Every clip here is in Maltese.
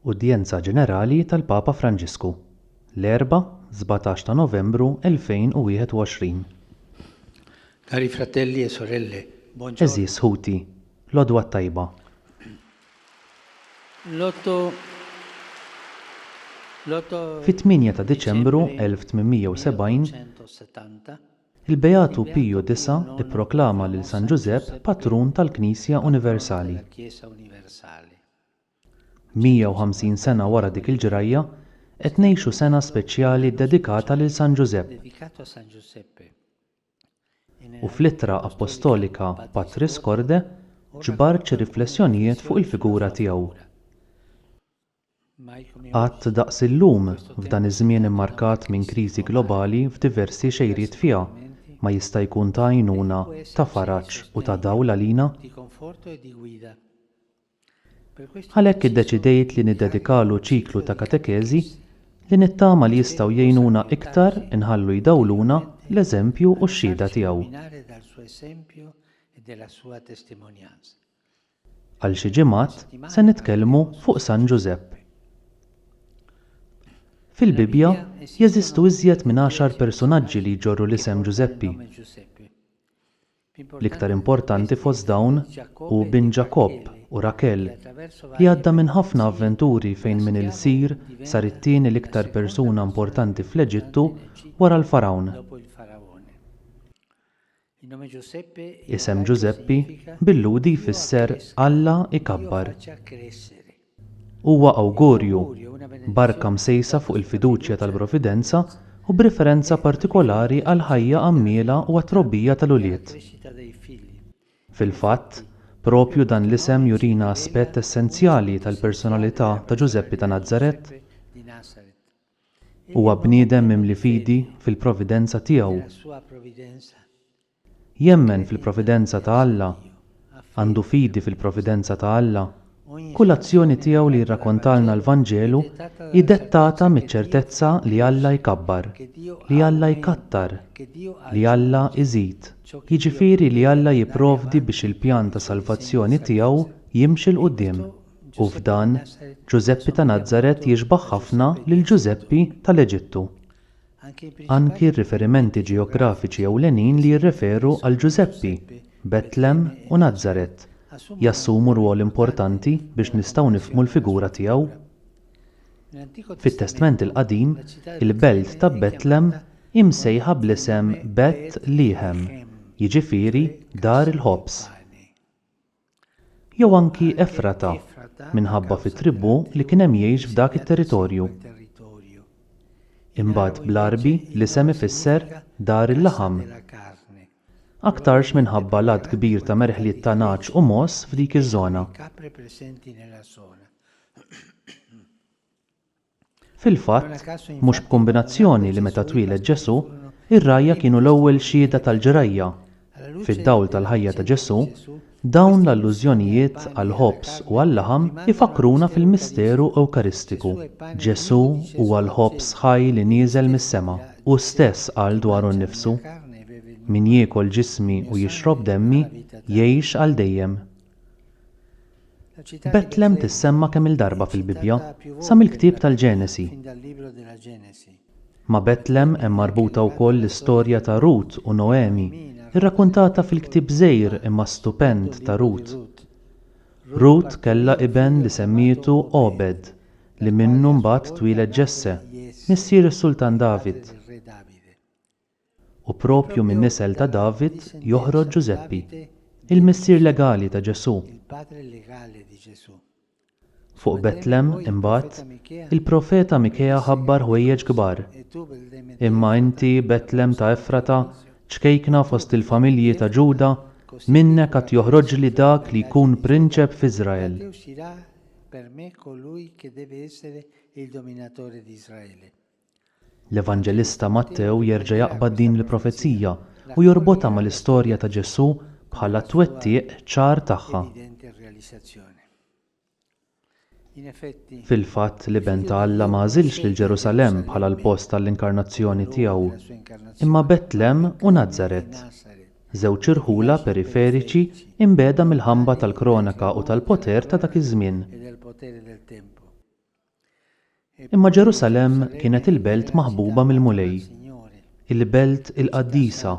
Udjenza Ġenerali tal-Papa Franġisku, l-Erbgħa, 17 ta' Novembru 2021. Cari fratelli e sorelle, buon giorno. Għeżież ħuti, l-għodwa t-tajba. Fit-8 ta' Diċembru 1870, il-Beatu Piju IX ipproklama lil San Ġużepp patrun tal-Knisja Universali. 150 sena wara dik il-ġrajja, qed ngħixu sena speċjali ddedikata lil San Ġużepp. U fl-ittra appostolika Patris Corde ġbart xi riflessjonijiet fuq il-figura tiegħu. Qatt daqs illum, f'dan iż-żmien immarkat minn kriżi globali f'diversi xejriet fiha, ma jista' jkun ta' għajnuna, ta' faraġ u ta' dawl għalina? Għalhekk iddeċidejt li niddedikalu ċiklu ta' katekeżi li nittama li jistgħu jgħinuna iktar inħallu jdawluna l-eżempju u x-xhieda tiegħu. Għal xi ġimgħat se nitkellmu fuq San Ġużepp. Fil-Bibbja jeżistu iżjed minn għaxar persunaġġi li jġorru l-isem Ġużeppi. L-iktar importanti fost dawn hu bin Ġakobb u Rakel, li għadda minn ħafna avventuri fejn minn ilsir sar it-tieni l-iktar persuna importanti fl-Eġittu wara l-Fargħun. Isem Ġużeppi bil-Lhudi jfisser Alla ikabbar. Huwa awgurju, barka msejsa fuq il-fiduċja tal-Providenza u b'riferenza partikolari għall-ħajja għammiela u għat-trobbija tal-ulied. Fil-fatt, proprju dan l-isem jurina aspett essenzjali tal-personalità ta' Ġużeppi ta' Nazaret. Huwa bniedem mimli fidi fil-Providenza tiegħu. Jemmen fil-providenza ta' Alla, għandu fidi fil-providenza ta' Alla, kull azzjoni tiegħu li jirrakontalna l-Vanġelu hi dettata miċ-ċertezza li Alla jkabbar, li Alla jkattar, li Alla iżid, jiġifieri li Alla jipprovdi biex il-pjan ta' salvazzjoni tiegħu jimxi 'l quddiem, u f'dan, Ġużeppi ta' Nazaret jixbah ħafna lil Ġużeppi tal-Eġittu. anki r-riferimenti ġeografiċi ewlenin li jirreferu għal Ġużeppi, Betlem u Nazaret jassumu rwol importanti biex nistgħu nifhmu l-figura tiegħu. Fit-Testment il-Qadim, il-belt ta' Betlem hi msejħa bl-isem Bet Liħem, jiġifieri Dar il-Ħobż. Jew anki Efrata, minħabba fit-tribù li kien hemm jgħix f'dak it-territorju. Imbagħad bl-Għarbi l-isem ifisser Dar il-Laħam. Aktarx minħabba l-għadd kbir ta' merħliet ta' nagħaġ u mogħoż f'dik iż-żona. Fil-fatt, mhux b'kumbinazzjoni li meta twieled Ġesù, ir-rgħajja kienu l-ewwel xhieda tal-ġrajja. Fid-dawl tal-ħajja ta' Ġesù, dawn l-allużjonijiet għall-ħobż u għal-laħam ifakkruna fil-misteru Ewkaristiku. Ġesù huwa l-ħobż ħaj li nieżel mis-sema. Hu stess qal dwaru nnifsu, Min jiekol ġismi u jixrob demmi, jgħix għal dejjem. Betlem tissemma kemm-il darba fil-Bibbja, sa mill-ktieb tal-Ġenesi. Ma' Betlem hemm marbuta wkoll l-istorja ta' Rut u Noemi, irrakuntata fil-ktieb żgħir imma stupend ta' Rut. Rut kellha iben li semmietu Obed, li minnu mbagħad twieled Ġesse, missier is-Sultan David. U proprju min-nisel ta' David joħroġ Ġużeppi, il-missier legali ta' Ġesù. Fuq Betlem, imbagħad, il-profeta Mikea ħabbar ħwejjeġ kbar, Imma inti, Betlem ta' Efrata, ċkejkna fost il-familji ta' Ġuda, minnek għad joħroġli dak li jkun prinċep f'Iżrael. L-Evanġelista Mattew jerġa' jaqbad din il-profezija u jorbotha mal-istorja ta' Ġesù bħala t-twettiq ċar tagħha. Fil-fatt, l-Iben ta' Alla ma għażilx lil Ġerusalemm bħala l-post għall-inkarnazzjoni tiegħu, imma Betlehem u Nazaret, żewġ irħula periferiċi mbiegħda mill-ħamba tal-kronaka u tal-poter ta' dak iż-żmien. Imma Ġerusalemm kienet il-belt maħbuba mill-Mulej, il-belt il-qaddisa,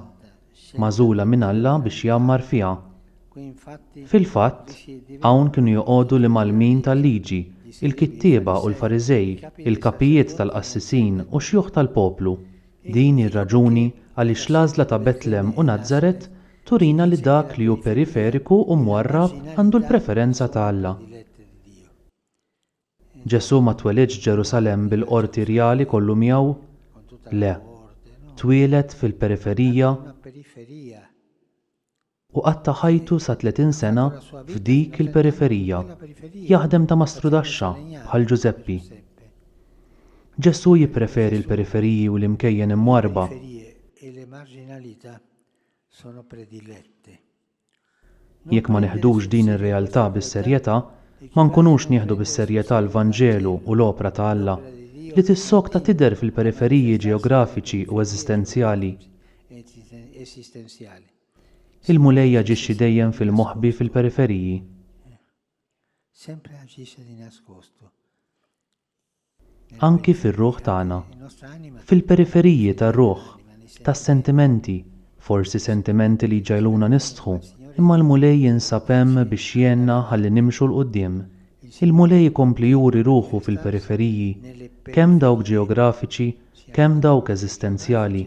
magħżula minn Alla biex jgħammar fiha. Fil-fatt, hawn kienu joqogħdu l-imgħallmin tal-Liġi, il-kittieba u l-Fariżej, il-kapijiet tal-qassisin u x-xjuħ tal-poplu. Din hi r-raġuni għaliex l-għażla ta' Betlem u Nazaret turina li dak li hu periferiku u mwarrab għandu l-preferenza ta' Alla. Ġesù ma twelidx f'Ġerusalemm bil-qorti rjali kollu miegħu. Le. Twieled fil-periferija u qatta' ħajtu sa tletin sena f'dik il-periferija, jaħdem ta' mastrudaxxa bħal Ġużeppi. Ġesù jippreferi l-periferiji u l-imkejjen imwarrba. Jekk ma neħdux din ir-realtà bis-serjetà, ma nkunux nieħdu bis-serjetà l-Vanġelu u l-opra ta' Alla, li tissokta tidher fil-periferiji ġeografiċi u eżistenzjali. Il-Mulej jaġixxi dejjem fil-moħbi fil-periferiji. anki fir-ruħ tagħna, fil-periferiji tar-ruħ, tas-sentimenti, forsi sentimenti li jġegħluna nistħu, imma l-Mulej jinsab hemm biex jgħinna ħalli nimxu 'l quddiem. Il-Mulej ikompli juri ruħu fil-periferiji, kemm dawk ġeografiċi, kemm dawk eżistenzjali.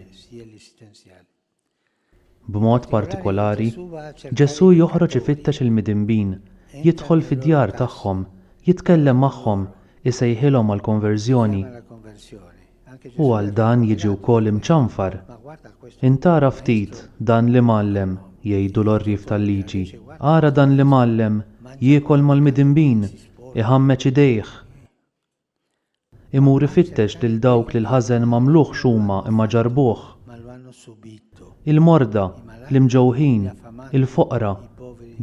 B'mod partikolari, Ġesù joħroġ ifittex il-midinbin, jidħol fid-djar tagħhom, jitkellem magħhom, isejħilhom għall-konverżjoni. U għal dan jiġi wkoll imċanfar. Int ara ftit dan l-imgħallem, jgħidu l-għorrief tal-liġi, ara dan l-imgħallem jiekol mal-midinbin, iħammeġ idejh! Imur ifittex lil dawk li l-ħażen m'għamluhx huma imma ġarrbuh. Il-morda, l-imġewħin, il-foqra,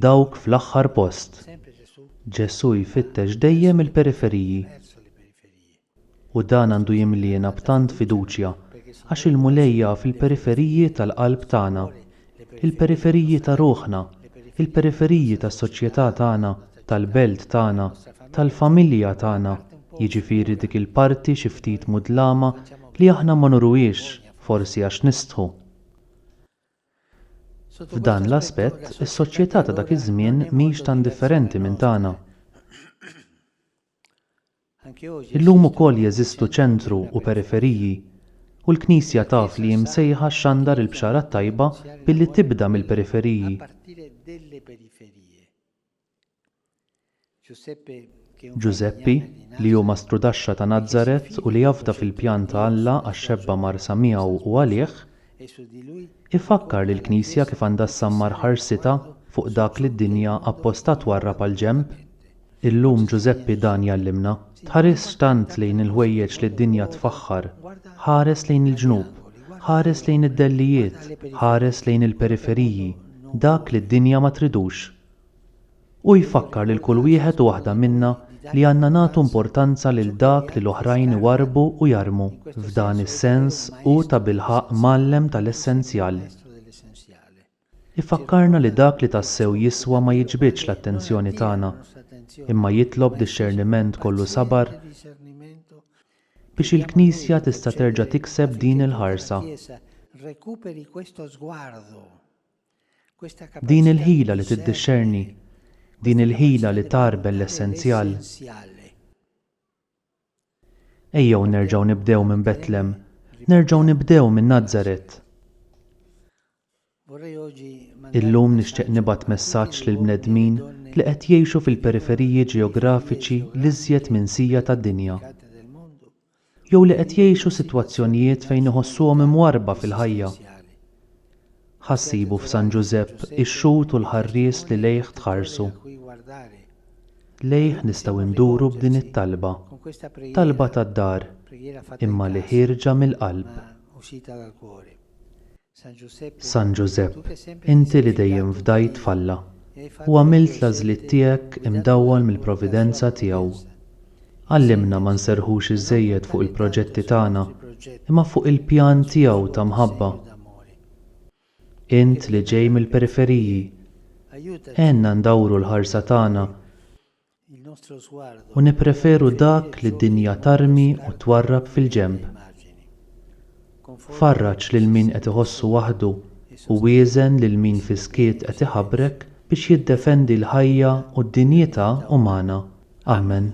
dawk fl-aħħar post. Ġesù jfittex dejjem il-periferiji. U dan għandu jimliena b'tant fiduċja għax il-Mulej jaf il-periferiji tal-qalb tagħna, il-periferiji ta' ruħna, il-periferiji tas-soċjetà tagħna, tal-belt tagħna, tal-familja tagħna, jiġifieri dik il-parti xi ftit mudlama li aħna ma nuruhiex, forsi għax nistħu. F'dan l-aspett, is-soċjetà ta' dak iż-żmien mhix tant differenti minn tagħna. Illum ukoll jeżistu ċentru u periferiji, u l-Knisja taf li hi msejħa xxandar il-Bxara t-Tajba billi tibda mill-periferiji. Ġużeppi, li hu mastrudaxxa ta' Nazaret u li afda fil-pjan ta' Alla għax-xebba marsa miegħu u għalih, Ifakkar li l-Knisja kif għandha ssammar ħarsitha fuq dak li d-dinja apposta twarrab għall-ġenb? Illum Ġużeppi dan jgħallimna, Tħarisx tant lejn il-ħwejjeġ li d-dinja tfaħħar, ħares lejn il-ġnub, ħares lejn id-dellijiet, ħares lejn il-periferiji, dak li d-dinja ma tridux. Hu jfakkar lil kull wieħed u waħda minna li għandna nagħtu importanza lil dak li l-oħrajn iwarrbu u jarmu. F'dan is-sens, hu tabilħaqq mgħallem ta' l-essenzjal. Ifakkarna li dak li tassew jiswa ma jiġbidx l-attenzjoni tagħna, imma jitlob dixxerniment kollu sabar biex il-Knisja tista' terġa' tikseb din il-ħarsa. Din il-ħila li tiddixxerni, din il-ħila li tgħarbel l-essenzjal. Ejjew nerġgħu nibdew minn Betlem, nerġgħu nibdew minn Nazaret. Illum nixtieq nibgħat messaġġ lill-bnedmin li qed jgħixu fil-periferiji ġeografiċi l-iżjed minsija tad-dinja. jew li qed jgħixu sitwazzjonijiet fejn iħossuhom imwarrba fil-ħajja. Ħa ssibu f'San Ġużepp ix-xhud u l-ħarries li lejh tħarsu. Lejh nistgħu nduru b'din it-talba, talba tad-dar, imma li ħierġa mill-qalb. San Ġużepp, inti li dejjem fdajt f'Alla, u għamilt l-għażliet tiegħek imdawwal mill-providenza tiegħu, għallimna ma nserrħux iżżejjed fuq il-proġetti tagħna imma fuq il-pjan tiegħu ta' mħabba. Int li ġej mill-periferiji, għenna ndawru l-ħarsa tagħna u nippreferu dak li d-dinja tarmi u twarrab fil-ġenb. Farraġ lil min qed iħossu waħdu u wieżen lil min fis-skiet qed iħabrek biex jiddefendi l-ħajja u d-dinjità umana. Amen.